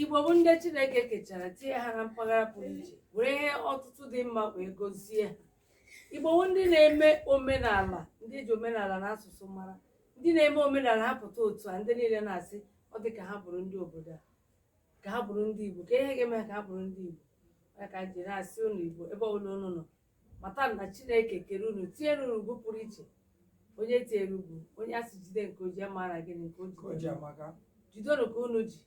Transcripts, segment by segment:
Igbo bụ ndị Chineke kechara tinye ha na mpaghara pụrụ iche were ihe ọtụtụ dị mma wee gozie ha Igbo bụ ndị na-eme omenala ndị eji omenala na asụsụ mara ndị na-eme omenala ha pụta otu a ndị niile na-asị ọ dị ka ha bụrụ ndị obodo a ka ha bụrụ ndị Igbo ka ihe ga-eme ka ha bụrụ ndị Igbo ya ka m ji na-asị ụnụ Igbo ebe ọbụla ụnụ nọ mata na chineke kere unu tinyere unu ugwu pụrụ iche onye e tinyere ugwu onye a sị jide nke o ji amara gịnị nke o ji amaka. jidonu ka unu ji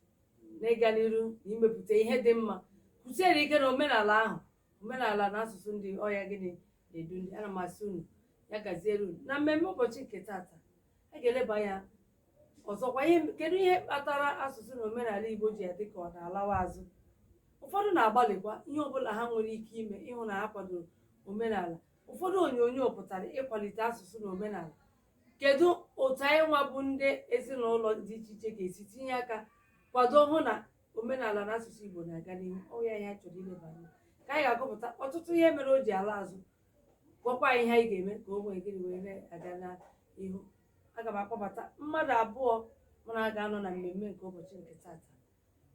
n'ịga n'iru na imepụta ihe dị mma kwụsiere ike na omenala ahụ omenala na asụsụ ndị ọ ya gịnị na-edu ndị ana m asị unu ya gaziere unu na mmemme ụbọchị nke tata a ga-eleba anya ọzọkwa kedu ihe kpatara asụsụ na omenala igbo ji adị ka ọ na-alawa azụ ụfọdụ na-agbalịkwa ihe ọbụla ha nwere ike ime ịhụ na ha kwadoro omenala ụfọdụ onyonyo pụtara ịkwalite asụsụ na omenala kedu otu anyị nwa bụ ndị ezinụlọ dị iche iche ga-esi tinye aka kwado hụ na omenala na asụsụ igbo na-aga n'ihu ọ ya ihe anyị chọrọ ileba anya ka anyị ga-agụpụta ọtụtụ ihe mere o ji ala azụ gwakwa anyị ihe anyị ga-eme ka o nwee gịnị wee na-aga n'ihu aga m akpọbata mmadụ abụọ mụ na ha ga-anọ na mmemme nke ụbọchị nke tata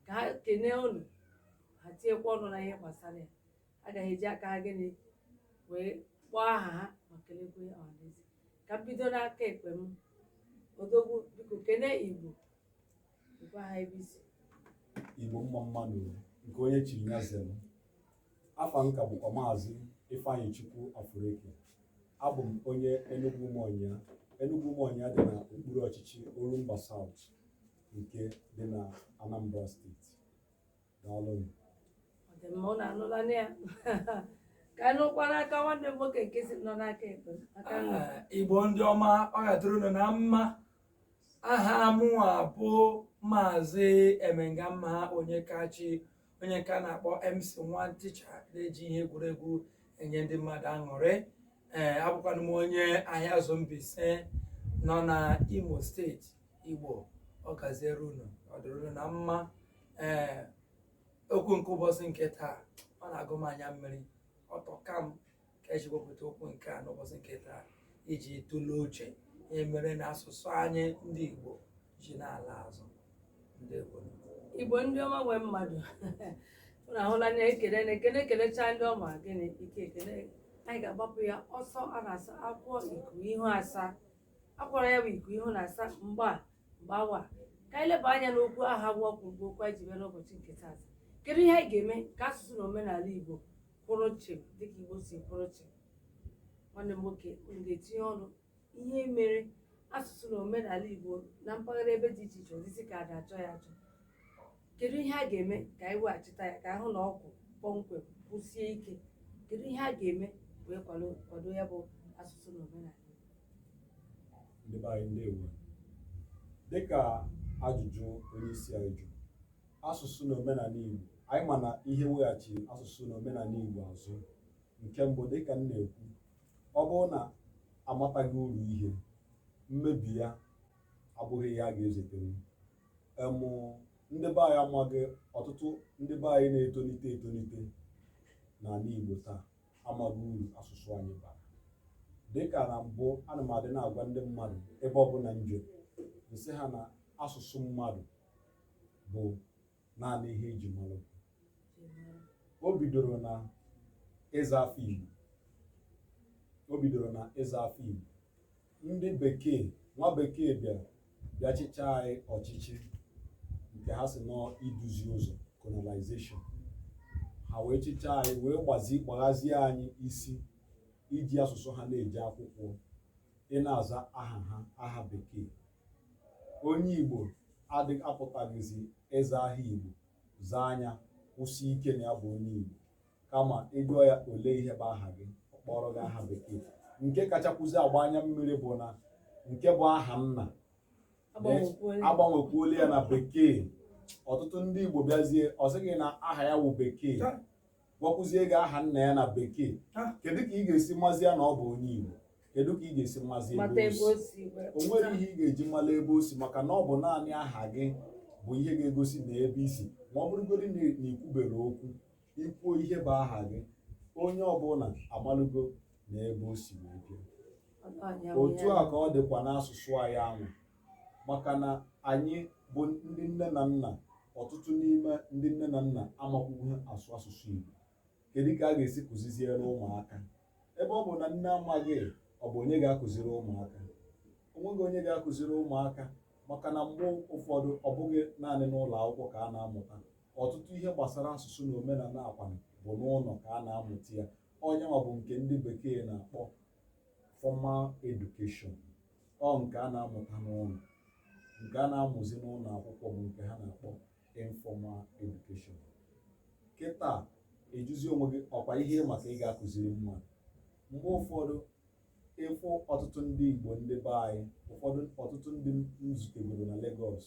ka ha kenee unu ha tinyekwa ọnụ na ihe gbasara ya ha ga-eji aka ha gịnị wee kpọọ aha ha ma kelekwe ọhaneze ka m bido n'aka ekpe m odogwu biko kenee igbo gwa ha ebe i si igbo mma mma nụ nke onye chiri ya zere afa m ka bụkwa maazị Ifeanyịchukwu Afureke abụ m onye Enugwu Ụmụọnyịa Enugwu Ụmụọnyịa dị na okpuru ọchịchị Orumba South nke dị na Anambra steeti daalụnụ Ọ dị mma ụnụ anụlanụ ya ka anyị nụkwa n'aka nwanne m nwoke nke si nọ n'aka ekpe aka nri Ah, igbo ndị ọma ọ ga-adịrị unu na mma aha mụnwa bụ maazị emengamma Onyekachi onye nke a na-akpọ MC nwa ticha na-eji ihe egwuregwu enye ndị mmadụ aṅụrị ee abụkwanụ m onye ahịazụ mbaise nọ na imo steeti igbo ọ gaziere unu ọ dịrị unu na mma ee okwu nke ụbọchị nke taa ọ na-agụ m anya mmiri ọ tọka m ka e ji wepụta okwu nke a n'ụbọchị nke taa iji tụlee uche ihe mere na asụsụ anyị ndị Igbo ji na-ala azụ ndị Igbo igbo ndị ọma nwee mmadụ ụnụ ahụla na ekele na ekele ekelechaa ndị ọma gịnị ike ekele anyị ga-agbapụ ya ọsọ a na-asa akwụkwọ iku ihu asa akwara ya bụ iku ihu na-asa mgba mgbawa ka anyị leba anya n'okwu ahụ bụ okwu bụ okwu anyị ji bịa n'ụbọchị nke taata kedu ihe anyị ga-eme ka asụsụ na omenala igbo kwụrụ chịm dịka Igbo si kwụrụ chịm nwanne m nwoke unu ga-etinye ọnụ ihe mere asụsụ na omenala Igbo na mpaghara ebe dị iche iche ọ dịzi ka a ga-achọ ya achọ kedu ihe a ga-eme ka anyị weghachita ya ka a hụ na ọ kwụ kpọmkwem kwụsie ike kedu ihe a ga-eme wee kwado kwado ya bụ asụsụ na omenala ndị be anyị ndewo dịka ajụjụ onye isi anyị jụrụ asụsụ na omenala Igbo anyị ma na ihe weghachi asụsụ na omenala Igbo azụ nke mbụ dịka m na-ekwu ọ bụrụ na a mataghị uru ihe mmebi ya abụghị ihe a ga-ezetere em ndị be anyị amaghị ọtụtụ ndị be anyị na-etolite etolite n'ala Igbo taa amaghị uru asụsụ anyị bara dịka na mbụ ana m adị na-agwa ndị mmadụ ebe ọbụla m je m sị ha na asụsụ mmadụ bụ naanị ihe e ji mara o bidoro na ịza afa Igbo o bidoro na ịza afa Igbo ndị bekee nwa bekee bịara bịa chịchaa anyị ọchịchị nke ha sị na ọ iduzi ụzọ colonization ha wee chịchaa anyị wee gbazi gbaghazie anyị isi i ji asụsụ ha na-eje akwụkwọ ị na-aza aha ha aha bekee Onye Igbo adị apụtaghịzi ịza aha Igbo zaa anya kwusi ike na ya bụ onye Igbo kama ị jụọ ya ole ihe bụ aha gị ọ kpọrọ gị aha bekee nke kachakwuzi agba anya mmiri bụ na nke bụ aha nna a gbanwekwuola ya na bekee ọtụtụ ndị Igbo bịazie ọ sị gị na aha ya wụ bekee gwakwuzie gị aha nna ya na bekee ah. kedu ka ị ga-esi mazi ya na ọ bụ onye Igbo kedu ka ị ga-esi mazi ebe o si o nwere ihe ị ga-eji mala ebe o si maka na ọ bụ naanị aha gị bụ ihe ga-egosi na ebe i si ma ọ bụrụgodị na i kwuberọ okwu i kwuo ihe bụ aha gị onye ọbụla amalụgo na ebe o si wee bịa otu a ka ọ dịkwa n'asụsụ anyị ahụ maka na anyị bụ ndị nne na nna ọtụtụ n'ime ndị nne na nna amakwughị asụ asụsụ Igbo kedu ka a ga-esi kụziziere ụmụaka ebe ọ bụ na nne amaghị ọ bụ onye ga-akụziri ụmụaka onweghị onye ga-akụziri ụmụaka maka na mgbe ụfọdụ ọ bụghị naanị n'ụlọ akwụkwọ ka a na-amụta ọtụtụ ihe gbasara asụsụ na omenala akwa bụ n'ụlọ ka a na-amụta ya ọ nya nwa bụ nke ndị bekee na-akpọ formal education ọ nke a na-amụta n'ụlọ nke a na-amụzi n'ụlọ akwụkwọ bụ nke ha na-akpọ informal education kịta ị jụzi onwe gị ọkwa ihe ị ma ka ị ga-akụziri mmadụ mgbe ụfọdụ ị fụ ọtụtụ ndị Igbo ndị be anyị ụfọdụ ọtụtụ ndị m zutegoro na Lagos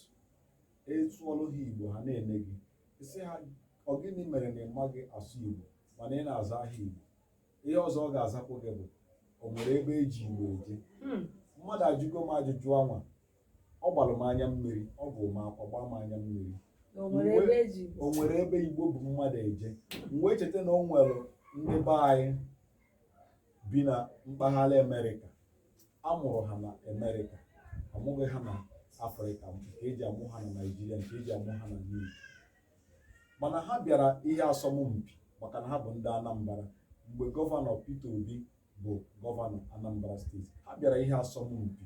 ị sụọlụ ha Igbo ha na-ene gị ị sị ha ọ gịnị mere na ị maghị asụ Igbo mana ị na-aza aha Igbo ihe ọzọ ọ ga-azakwu gị bụ o nwere ebe eji igbo eje hmm. mmadụ ajụgo m ajụjụ anwa ọ gbalụ m anya mmiri ọ bụ m akwa gbaa m anya mmiri o nwere ebe igbo bu mmadụ eje m wee cheta na o nwere ndị be anyị bi na mpaghara amerịka a mụrụ ha na amerịka amụghị ha na afrịka nke eji amụ ha na naijiria nke eji amụ ha na igbo mana ha bịara ihe asọmpi maka na ha bụ ndị Anambra mgbe gọvanọ Peter Obi bụ gọvanọ Anambra steeti ha bịara ihe asọmpi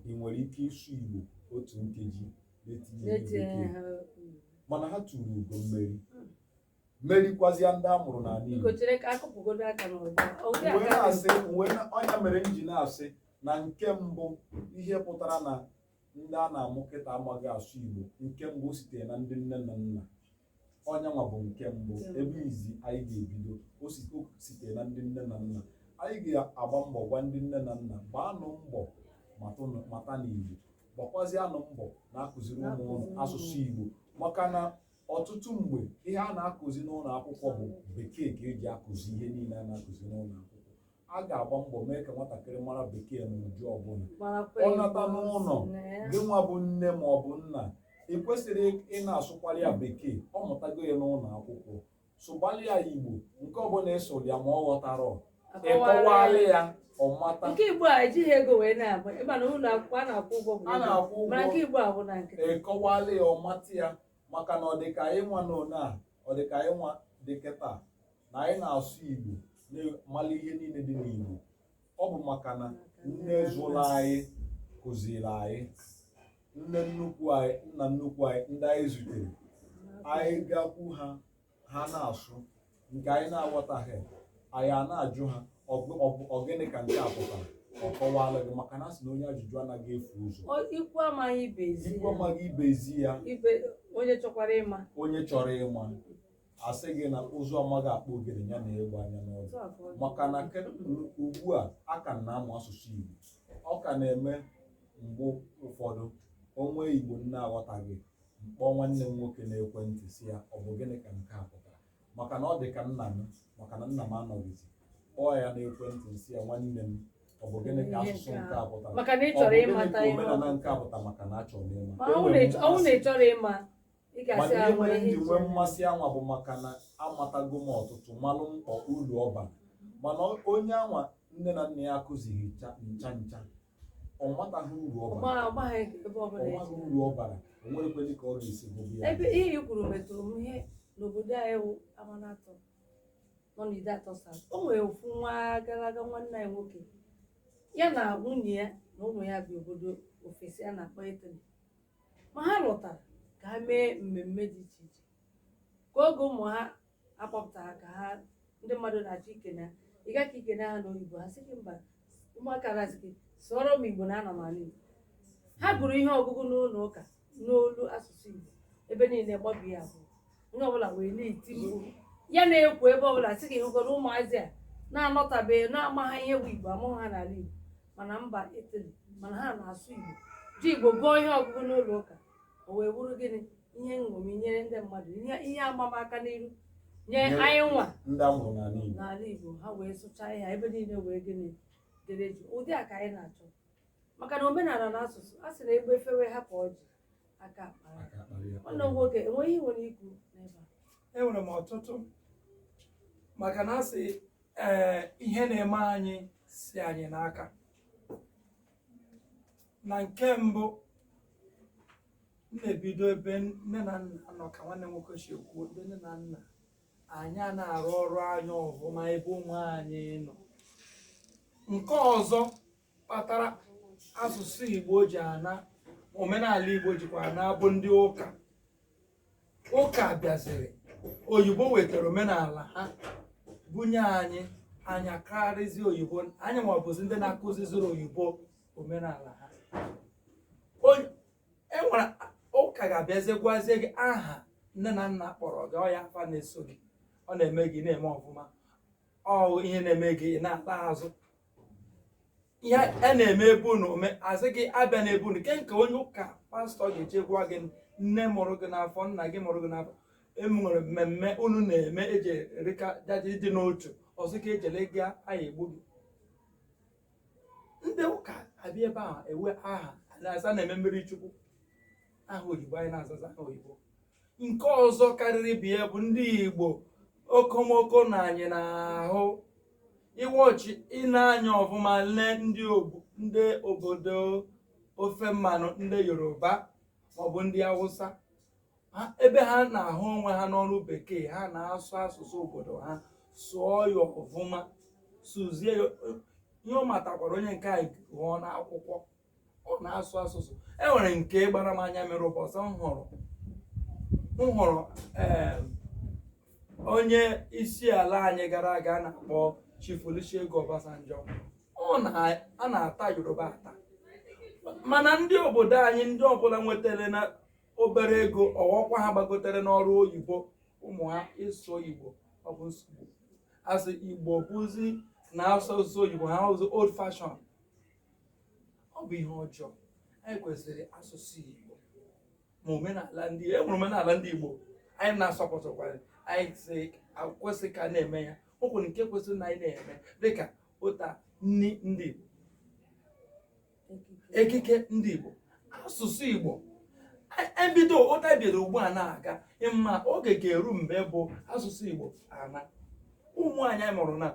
ị nwere ike ịsụ Igbo otu nkeji mana ha tụrụ ugo mmeri merikwazịa ndị a mụrụ n'ala Igbo ọ nya mere m ji na-asị na nke mbụ ihe pụtara na ndị a na-amụ kịta amaghị asụ Igbo nke mbụ o sitere na ndị nne na nna ọnyanwa bụ nke mbụ ebe izi anyị ga-ebido o sitere na ndị nne na nna anyị ga-agba mbọ gwa ndị nne na nna gbaanụ mbọ mata na Igbo gbakwazianụ mbọ na-akụziri ụmụ ụnụ asụsụ Igbo maka na ọtụtụ mgbe ihe a na-akụzi n'ụlọ akwụkwọ bụ bekee ka eji akụzi ihe niile a na-akụzi n'ụlọ akwụkwọ a ga-agba mbọ mee ka nwatakịrị mara bekee n'ụdị ọbụla ọ nata n'ụlọ gị nwa bụ nne ma ọ bụ nna ị kwesịrị ị na-asụkwara ya bekee ọ mụtago ya n'ụlọ akwụkwọ sụgbalị ya igbo nke ọbụla ị sụrụ ya ma ọ ghọtarọ ị kọwalị ya ọ mata nke igbo a ejighị ego wee na-agba ịma na ụlọ akwụkwọ a na-akwụ ụgwọ a na-akwụ ụgwọ mana nke igbo ahụ na nke ị kọwalị ya ọ mata ya maka na ọ dịka anyị nwa na one a ọ dịka anyị nwa dị kịta na anyị na-asụ Igbo na-amali ihe niile dị n'Igbo ọ bụ maka na nne zụrụ anyị kụziri anyị nne nnukwu anyị nna nnukwu anyị ndị anyị zutere anyị gakwu ha ha na-asụ nke anyị na-aghọtaghị anyị a na-ajụ ha ọ gịnị ka nke a pụtara ọ kọwalụ gị maka na a sị na onye ajụjụ anaghị efu ụzọ ikwu amaghị ibe ezi ya onye chọrọ ịma a sị gị na ụzụ amaghị akpụ ogene ya nee egbe anya n'ọdụ maka na ugbu a a ka m na-amụ asụsụ Igbo ọ ka na-eme mgbe ụfọdụ o nwee Igbo m na-aghọtaghị m kpọọ nwanne m nwoke n'ekwentị sị ya ọ bụ gịnị ka nke a pụtara maka na ọ dị ka nna m maka na nna m anọghịzi kpọọ ya n'ekwentị sị ya nwanne m ọ bụ gịnị ka asụsụ nke a pụtara maka na ị chọrọ ịmata omenala nke a pụtara maka na achọrọ m ịma ọ bụ na ị chọrọ ịma mana ihe mere m ji nwee mmasị anwa bụ maka na amatago m ọtụtụ malụ mkpa ulu ọ bara mana onye anwa nne na nna ya akụzighị ncha ncha ọ mataghị uru ọ bara ọ maghị uru ọ bara o nwerekwedị ka ọ ga-esi gụba ya ebe ihe i kwuru metụrụ m ihe n'obodo anyị wụ Amanatọ nọ n'Ideatọ South o nwere ofu ọnwa gara aga nwanne anyị nwoke ya na nwunye ya na ụmụ ya bi obodo ofesi a na-akpọ Italy ma ha lọtara ka ha mee mmemme dị iche iche ka oge ụmụ ha akpọpụtara ka ha ndị mmadụ na-achọ ikene ha ị gaa ka i kene ha n'oyibo ha sị gị mba ụmụaka na-asị gị sụọrọ m igbo na anọ m n'ala igbo ha gụrụ ihe ọgụgụ n'ụlọ ụka n'olu asụsụ igbo ebe niile gbabie abụọ onye ọbụla wee na-eti mkpu ya na-ekwu ebe ọbụla sị gị hụgoro ụmụazị a na-anọtabeghị na-amaha ihe bụ igbo a mụghị ha n'ala igbo ma na mba Italy mana ha na-asụ Igbo ji Igbo gụọ ihe ọgụgụ n'ụlọ ụka o wee bụrụ gịnị ihe nṅomi nyere ndị mmadụ ihe amamaka n'iru nye anyị nwa ndị a mụrụ n'ala Igbo ha wee sụchaa ihe ebe niile wee gịnị dere jii ụdị a ka anyị na-achọ maka na omenala na asụsụ a sị na egbe fewe hapụ ọjị aka akpara ya nwanne m nwoke enweghị ihe i nwere ikwu n'ebe a enwere m ọtụtụ maka na a sị ee ihe na-eme anyị si anyị n'aka na nke mbụ m na-ebido ebe nne na nna nọ ka nwanne m nwoke si ekwu ebe nne na nna anyị a na-arụ ọrụ anyị ọfụma ebe ụmụ anyị nọ nke ọzọ kpatara asụsụ Igbo ji ana omenala Igbo jikwa ana bụ ndị ụka ụka bịaziri oyibo wetara omenala ha bunye anyị anyị akarịzi oyibo anyị nwa bụzi ndị na-akụziziri oyibo omenala ha Onye- e nwere ụka ga-abịazie gwazie gị aha nne na nna kpọrọ gị ọ ya afa na-eso gị ọ na-eme gị na-eme ọfụma ọ ihe na-eme gị ị na-ala azụ ihe a na-eme be unu ome a sị gị abịana be unu ke nke onye ụka pastọ ga-eje gwa gị nne mụrụ gị n'afọ nna gị mụrụ gị n'afọ e nwere mmemme unu na-eme e ji erikọ e ji adị n'otu ọ sị gị ejela ha ya-egbu gị ndị ụka abịa ebe a ewe aha nsọ na-eme mmiri chukwu aha oyibo anyị na-azazi aha oyibo nke ọzọ karịrị ibe ya bụ ndị igbo okomoko na anyị na-ahụ ịwọchi ịna-anya ọfụma lee ndị ogbu ndị obodo ofe mmanụ ndị yoruba maọbụ ndị awụsa Ha- ebe ha na-ahụ onwe ha n'ọrụ bekee ha na-asụ asụsụ obodo ha sụọ ya ọfụma sụzie ya ihe ọ matakwara onye nke a gụọ n'akwụkwọ ọ na-asụ asụsụ e nwere nke gbara m anya mere ụbọchị m hụrụ m hụrụ ee onye isi ala anyị gara aga a na-akpọ Chief Olusegun Obasanjo ọ na a na-ata Yoruba ata mana ndị obodo anyị ndị ọbụla nwetarana obere ego ọ bụkwa ha gbagotere n'ọrụ oyibo ụmụ ha ịsụ igbo ọ bụ nsogbu a sị igbo bụzi na asụ asụsụ igbo a bụzi old fashion ọ bụ ihe ọjọọ anyị kwesịrị asụsụ Igbo ma omenala ndị e nwere omenala ndị Igbo anyị na-asọpụtụkwara anyị si kwesị ka a na-eme ya o nwere nke kwesịrị na anyị na-eme dịka ụta nri ndị Igbo ekike ndị Igbo asụsụ Igbo e bido otu a bịara ugbu a na-aga ị ma oge ga-eru mgbe bụ asụsụ Igbo anaa ụmụ anyị amụrụna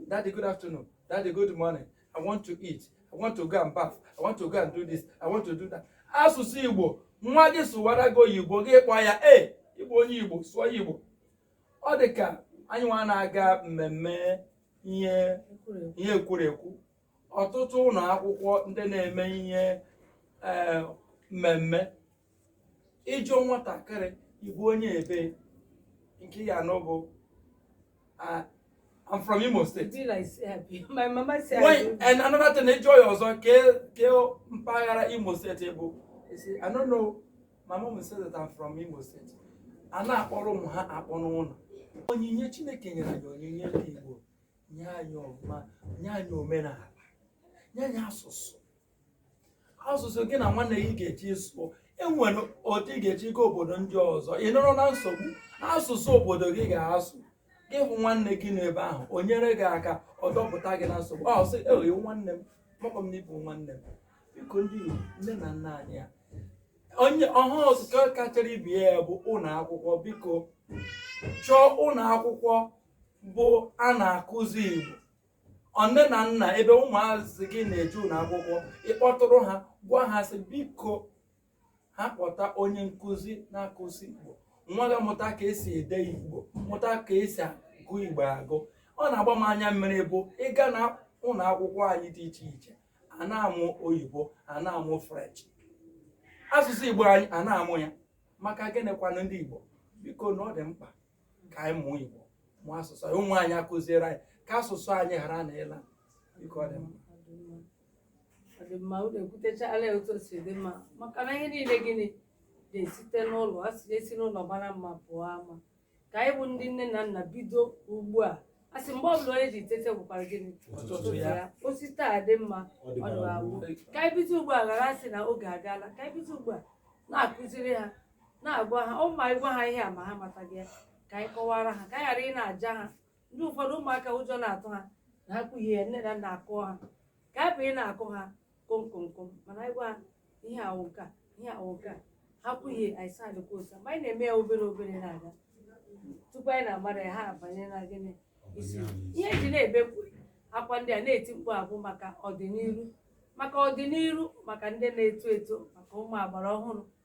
daddy good afternoon daddy good morning I want to eat I want to go and bath I want to go and do this I want to do that asụsụ Igbo nwa gị sụwara gị oyibo gị kpọọ ya e ị bụ onye Igbo sụọ ya Igbo ọ dị ka anyị nwa na-aga mmemme ihe ihe ekwurekwu ọtụtụ ụlọ akwụkwọ ndị na-eme ihe eh, mmemme ị jụọ nwatakịrị ị bụ onye ebee nke ya anọ bụ ah, I'm from Imo State. Be like, eh, be- my mama said, Why, and another thing, ị jụọ ya ọzọ. Kee, kee, mpaghara Imo State ị bụ. Ọ sị, I don't know. My mom said that I'm from Imo State. A na-akpọrọ ụmụ ha akpọ n'ụlọ. Onyinye Chineke nyere anyị onyinye ndị Igbo. Nye anyị ọma, nye anyị omenala, nye anyị asụsụ. asụsụ gị na nwanne gị ga-eji sụọ e nwere otu ị ga-eji gaa obodo ndị ọzọ ị nọrọ na nsogbu asụsụ obodo gị ị ga-asụ gị hụ nwanne gị n'ebe ahụ o nyere gị aka ọ dọpụta gị na nsogbu ọ sị ewo nwanne m amakwa m na ị bụ nwanne m biko ndị Igbo nne na nna anyị ha onye ọha ọzọ ka kachara ibe ya bụ ụlọ akwụkwọ biko chọọ ụlọ akwụkwọ bụ a na-akụzi Igbo nne na nna ebe ụmụazị gị na-eje ụlọ akwụkwọ ị kpọtụrụ ha gwa ha sị biko ha kpọta onye nkụzi na-akụzi igbo nwa gị mụta ka esi ede igbo mụta ka esi agụ igbo agụ ọ na-agba m anya mmiri bụ ịga na ụlọ akwụkwọ anyị dị iche iche a na-amụ oyibo a na-amụ french asụsụ igbo anyị a na-amụ ya maka gịnịkwanụ ndị igbo biko na ọ dị mkpa ka anyị mụọ igbo mụọ asụsụ anyị ụmụ anyị akụziere anyị ka asụsụ anyị ghara na ịla biko ọ dị mkpa ọ dị mma unu ekwutechala ya otu o si dị mma maka na ihe niile gịnị na-esite n'ụlọ a sị e si n'ụlọ mara mma pụọ ama ka anyị bụ ndị nne na nna bido ugbu a a sị mgbe ọbụla onye ji tete bụkwara gịnị Ụtụtụ ya. o si taa dị mma ọ dịbara gboo. ka anyị bido ugbu a ghara asị na oge agaala ka anyị bido ugbu a na-akụziri ha na-agwa ha ọ ma ị gwa ha ihe a ma ha mataghị ya ka anyị kọwara ha ka anyị ghara ị na-aja ha ndị ụfọdụ ụmụaka ụjọ na-atụ ha na ha kwuhie ya nne na nna akụọ ha ka anyị bụ ị na-akụ ha komkomkom mana anyị gwa ha ihe a wụ nke a ihe a wụ nke a ha kwuhie anyị sị ọ dịkwa otu a ma anyị na-eme ya obere obere na-aga tupu anyị na-amara ya ha abanye na gịnị isi ihe e ji na-ebepụ akwa ndị a na-eti mkpu a bụ maka ọdịnihu maka ndị na-eto eto maka ụmụ agbara ọhụrụ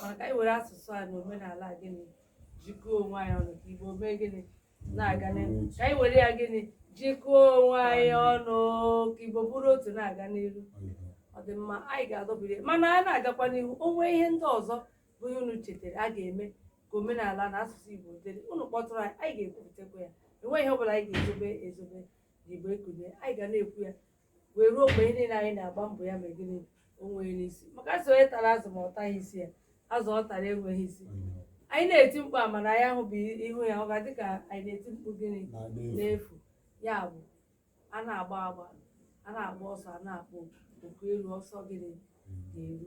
mana ka anyị were asụsụ a na omenala a gịnị jikọọ onwe anyị ọnụ ka igbo mee gịnị na-aga n'ihu ka anyị were ya gịnị jikọọ onwe anyị ọnụ ka igbo bụrụ otu na-aga n'ihu ọ dị mma anyị ga-adọbiri ya. mana a na-agakwa n'ihu o nwee ihe ndị ọzọ bụ ihe unu chetara a ga-eme ka omenala na asụsụ igbo dịrị unu kpọtụrụ anyị anyị ga-ekwuputekwa ya enweghị ihe ọ bụla anyị ga-ezobe ezobe na igbo ekunie anyị ga na-ekwu ya wee ruo mgbe ihe niile anyị na-agba mbọ ya mee gịnị o nwee isi maka a sị onye tara azụ ma ọ taghị isi ya azụ ọ tara enweghị isi anyị na-eti mkpu a mana anyị ahụbụ ihu ya ọ ga-adị ka anyị na-eti mkpu gịnị n'efu ya bụ a na-agba agba a na-agba ọsọ a na-akpọ oku elu ọsọ gịnị na-eru